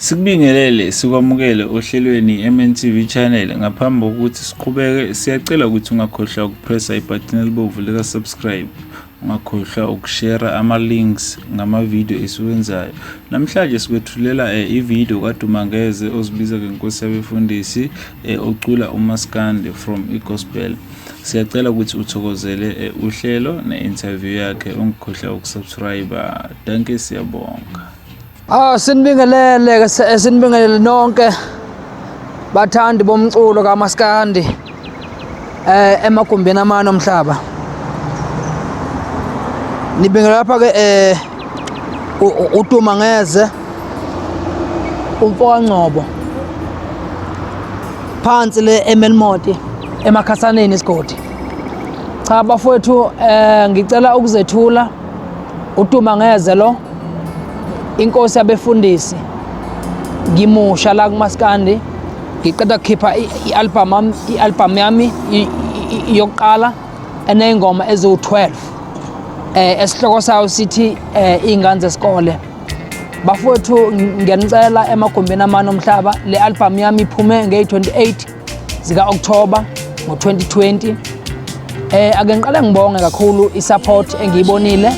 Sikubingelele sikwamukele ohlelweni MNTV channel ngaphambi kokuthi siqhubeke siyacela ukuthi ungakhohlwa ukupressa ibutton elibomvu lika subscribe ungakhohlwa ukushare ama links ngama video esiwenzayo namhlanje sikwethulela eh, i video kaDumangeze ozibiza ngenkosi yabefundisi eh, ocula uMaskande from iGospel siyacela ukuthi uthokozele eh, uhlelo ne interview yakhe ungikhohlwa ukusubscribe Dankie siyabonga. Ah sinibingelele ke se- sinibingelele nonke bathandi bomculo kamaskandi eh emagumbini amane omhlaba. Nibingelela lapha ke eh u- u- uTuma ngeze umfoka Ngcobo phansi le eMelmoti emakhasaneni isigodi. Cha bafowethu eh ngicela ukuzethula Utuma ngeze lo inkosi yabefundisi ngimusha la kumaskandi ngiqeda kukhipha i-album yami i-album yami yokuqala eneyingoma eziwu-12 eh esihloko sayo sithi eh ingane zesikole bafowethu ngiyanicela emagumbini amane omhlaba le album yami iphume ngey-28 zika-October ngo-2020 eh ake ngiqale ngibonge kakhulu i-support engiyibonile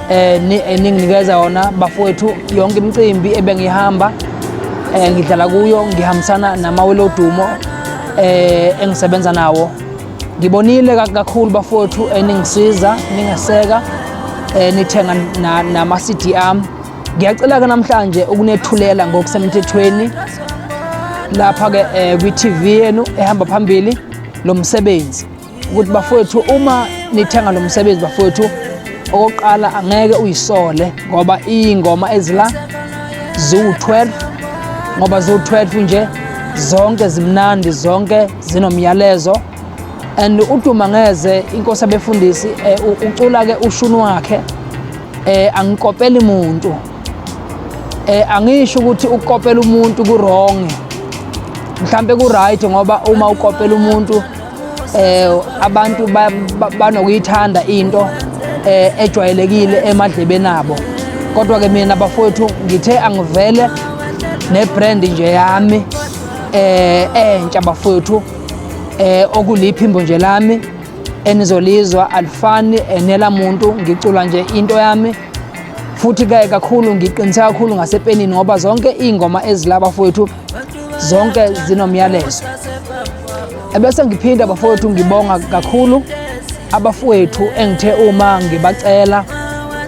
eh eninginikeza yona bafowethu yonke imicimbi ebengihamba eh ngidlala kuyo ngihambisana namawelo dumo eh engisebenza nawo ngibonile kakhulu bafowethu eningisiza ningeseka eh nithenga nama-CD ami Ngiyacela-ke namhlanje ukunethulela ngokusemthethweni lapha-ke um kwi-TV yenu ehamba phambili lo msebenzi ukuthi bafowethu uma nithenga lo msebenzi bafowethu okokuqala angeke uyisole ngoba iy'ngoma ezila ziwu-12 ngoba ziwu-12 nje zonke zimnandi zonke zinomyalezo and uduma ngeze inkosi abefundisi eh, ucula ke ushuni wakhe eh angikopeli muntu eh angisho ukuthi ukopela umuntu ku wrong mhlambe ku right ngoba uma ukopela umuntu eh abantu banokuyithanda into eh ejwayelekile emadlebeni abo kodwa ke mina bafowethu ngithe angivele ne brand nje yami eh entsha bafowethu eh okuliphimbo nje lami enizolizwa alifani enela muntu ngicula nje into yami futhi ke kakhulu ngiqinisa kakhulu ngasepenini ngoba zonke ingoma ezilaba fowethu zonke zinomyalezo ebese ngiphinda bafowethu ngibonga kakhulu abafowethu engithe uma ngibacela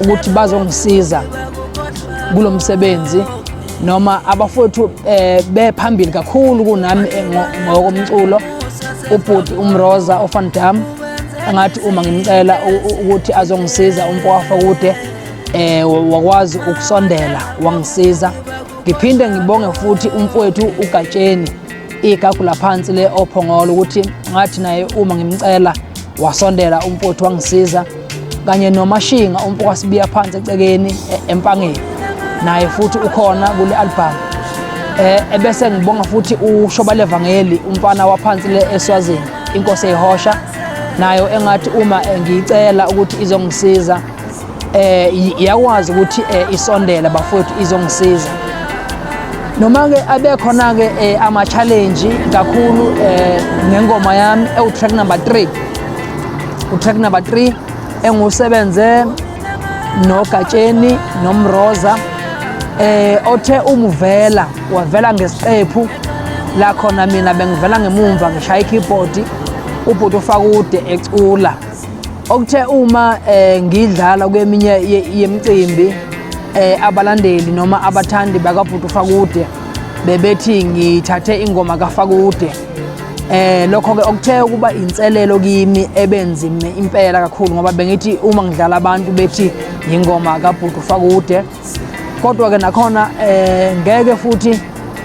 ukuthi bazongisiza kulomsebenzi noma abafowethu eh, bephambili kakhulu kunami eh, ngokomculo ubhuti umroza ofan dam angathi uma ngimcela ukuthi azongisiza umpowafa kude eh wakwazi ukusondela wangisiza ngiphinde ngibonge futhi umfowethu ugatsheni igagu laphansi le ophongolo ukuthi ngathi naye uma ngimcela wasondela umfowethu wangisiza kanye nomashinga umfo kwasibiya phansi ecekeni e, empangeni naye futhi ukhona kule albhamu um e, ebese ngibonga futhi ushoba levangeli umfana waphansi le eswazini inkosi eyihosha nayo engathi uma e, ngiyicela ukuthi izongisiza um iyakwazi ukuthi um isondela bafowethu izongisiza noma-ke abekhona-ke um ama-challenge kakhulu um ngengoma yami ewu-track number three utrack number 3 engusebenze nogatsheni nomroza eh othe umuvela wavela ngesiqephu la khona mina bengivela ngemumva ngishaya ikeyboard ubhuti ufakude ecula okuthe uma eh, ngidlala kweminye yemicimbi eh, abalandeli noma abathandi bakabhuti ufakude bebethi ngithathe ingoma kafakude Eh lokho ke okuthe ukuba inselelo kimi ebenzime impela kakhulu ngoba bengithi uma ngidlala abantu bethi yingoma kabhuti ufakude kodwa ke nakhona eh ngeke futhi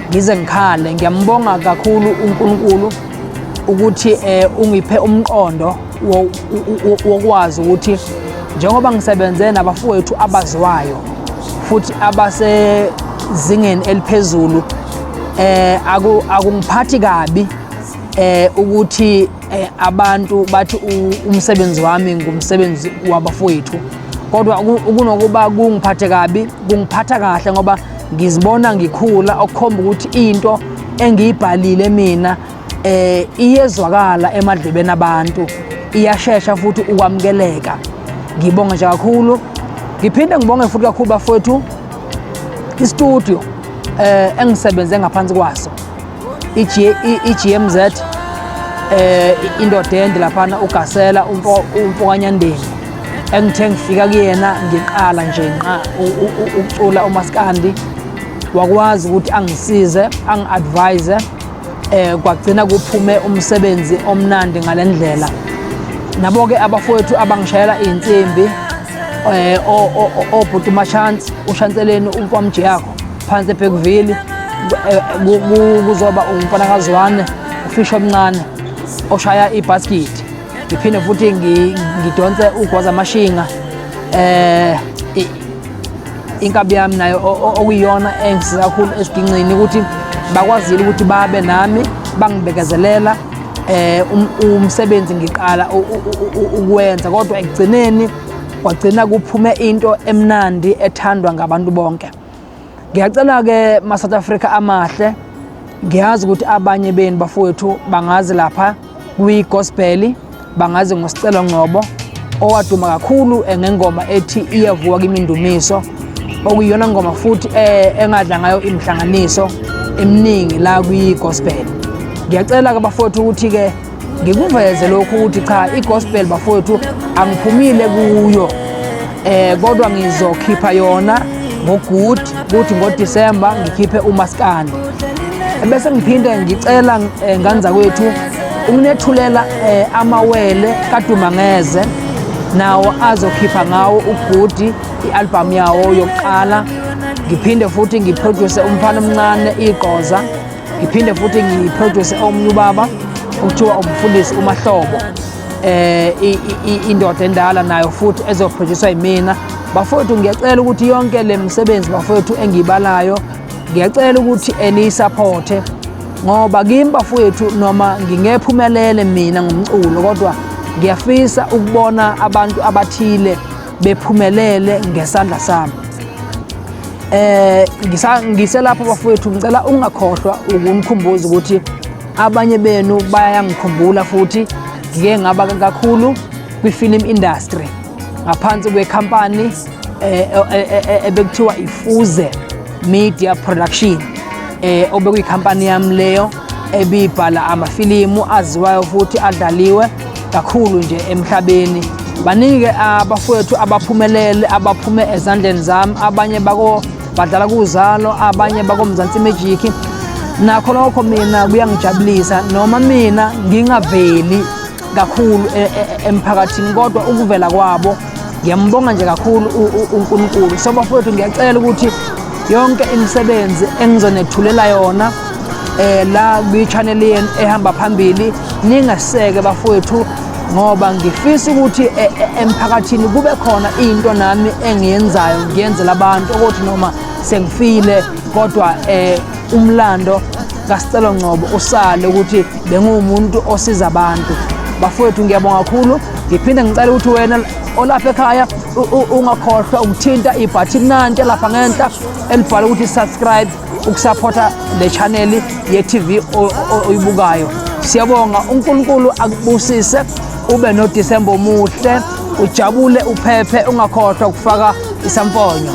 ngize ngikhale ngiyambonga kakhulu uNkulunkulu ukuthi eh ungiphe umqondo wokwazi ukuthi njengoba ngisebenze nabafowethu abaziwayo futhi abasezingeni eliphezulu eh akungiphathi kabi eh ukuthi eh, abantu bathi umsebenzi wami ngumsebenzi wabafowethu kodwa kunokuba kungiphathe kabi kungiphatha kahle ngoba ngizibona ngikhula okukhomba ukuthi into engiyibhalile mina eh iyezwakala emadlebeni abantu iyashesha futhi ukwamukeleka ngibonga nje kakhulu ngiphinde ngibonge futhi kakhulu bafowethu istudio eh engisebenze ngaphansi kwaso iGMZ eh indodende laphana ugasela umfokanyandeni engithe ngifika kuyena ngiqala nje nqa ukucula umaskandi wakwazi ukuthi angisize angi-advise eh kwagcina kuphume umsebenzi omnandi ngalendlela nabo ke abafowethu abangishayela insimbi eh obhuti machance ushanseleni umfamji yakho phansi eBeckville eh, kuzoba umfana kazwane ufisho omncane oshaya ibasket ngiphinde futhi ngidonse ugwaza amashinga eh inkabi yami nayo okuyiyona engisiza kakhulu esigingqini ukuthi bakwazile ukuthi babe nami bangibekezelela eh um, umsebenzi ngiqala ukuwenza kodwa ekugcineni kwagcina kuphume into emnandi ethandwa ngabantu bonke ngiyacela ke ma South Africa amahle ngiyazi ukuthi abanye benu bafowethu bangazi lapha kuyigospel bangazi ngosicelo ngcobo owaduma kakhulu eh, ngengoma ethi iyavuka kimindumiso okuyiyona ngoma futhi eh, engadla ngayo imihlanganiso eminingi la kwigospel ngiyacela ke bafowethu ukuthi-ke ngikuveze lokhu ukuthi cha igospel bafowethu angiphumile kuyo eh kodwa ngizokhipha yona ngogood kuthi ngodisemba ngikhiphe umaskandi bese ngiphinde ngicela eh, ngane zakwethu ukunethulela eh, amawele kadumangeze nawo azokhipha ngawo ugudi i-albhamu yawo yokuqala ngiphinde futhi ngiproduce umfana omncane igqoza ngiphinde futhi ngiproduce omunye ubaba okuthiwa umfundisi umahlobo eh indoda endala nayo futhi ezophroducwa yimina bafowethu ngiyacela ukuthi yonke le msebenzi bafowethu engiyibalayo ngiyacela ukuthi eniyisaphothe ngoba kimi bafowethu noma ngingephumelele mina ngomculo kodwa ngiyafisa ukubona abantu abathile bephumelele ngesandla sami eh ngiselapho bafowethu ngicela ungakhohlwa ukungikhumbuza ukuthi abanye benu bayangikhumbula futhi ngike ngaba kakhulu kwi-film industry ngaphansi kwekhampani eh, eh, eh, ebekuthiwa ifuze media production um obekuyikhampani yami leyo ebibhala amafilimu aziwayo futhi adlaliwe kakhulu nje emhlabeni baningi-ke abafowethu abaphumelele abaphume ezandleni zami abanye bako badlala kuzalo abanye bakomzansi imejiki nakho lokho mina kuyangijabulisa noma mina ngingaveli kakhulu e, e, e, emphakathini kodwa ukuvela kwabo ngiyambonga nje kakhulu uNkulunkulu so bafowethu ngiyacela ukuthi yonke imisebenzi engizonethulela yona eh la kwi-channel yenu ehamba phambili ningaseke bafowethu ngoba ngifisa ukuthi e, e, emphakathini kube khona into nami engiyenzayo ngiyenzela abantu ukuthi noma sengifile kodwa eh umlando kaSicelo Ngcobo usale ukuthi bengumuntu osiza abantu bafowethu ngiyabonga kakhulu ngiphinde ngicela ukuthi wena olapha ekhaya ungakhohlwa ukuthinta ibhathini nantsha lapha ngenhla elibhala ukuthi subscribe ukusaphotha le chaneli ye-tv oyibukayo siyabonga unkulunkulu akubusise ube nodisemba omuhle ujabule uphephe ungakhohlwa ukufaka isamfonyo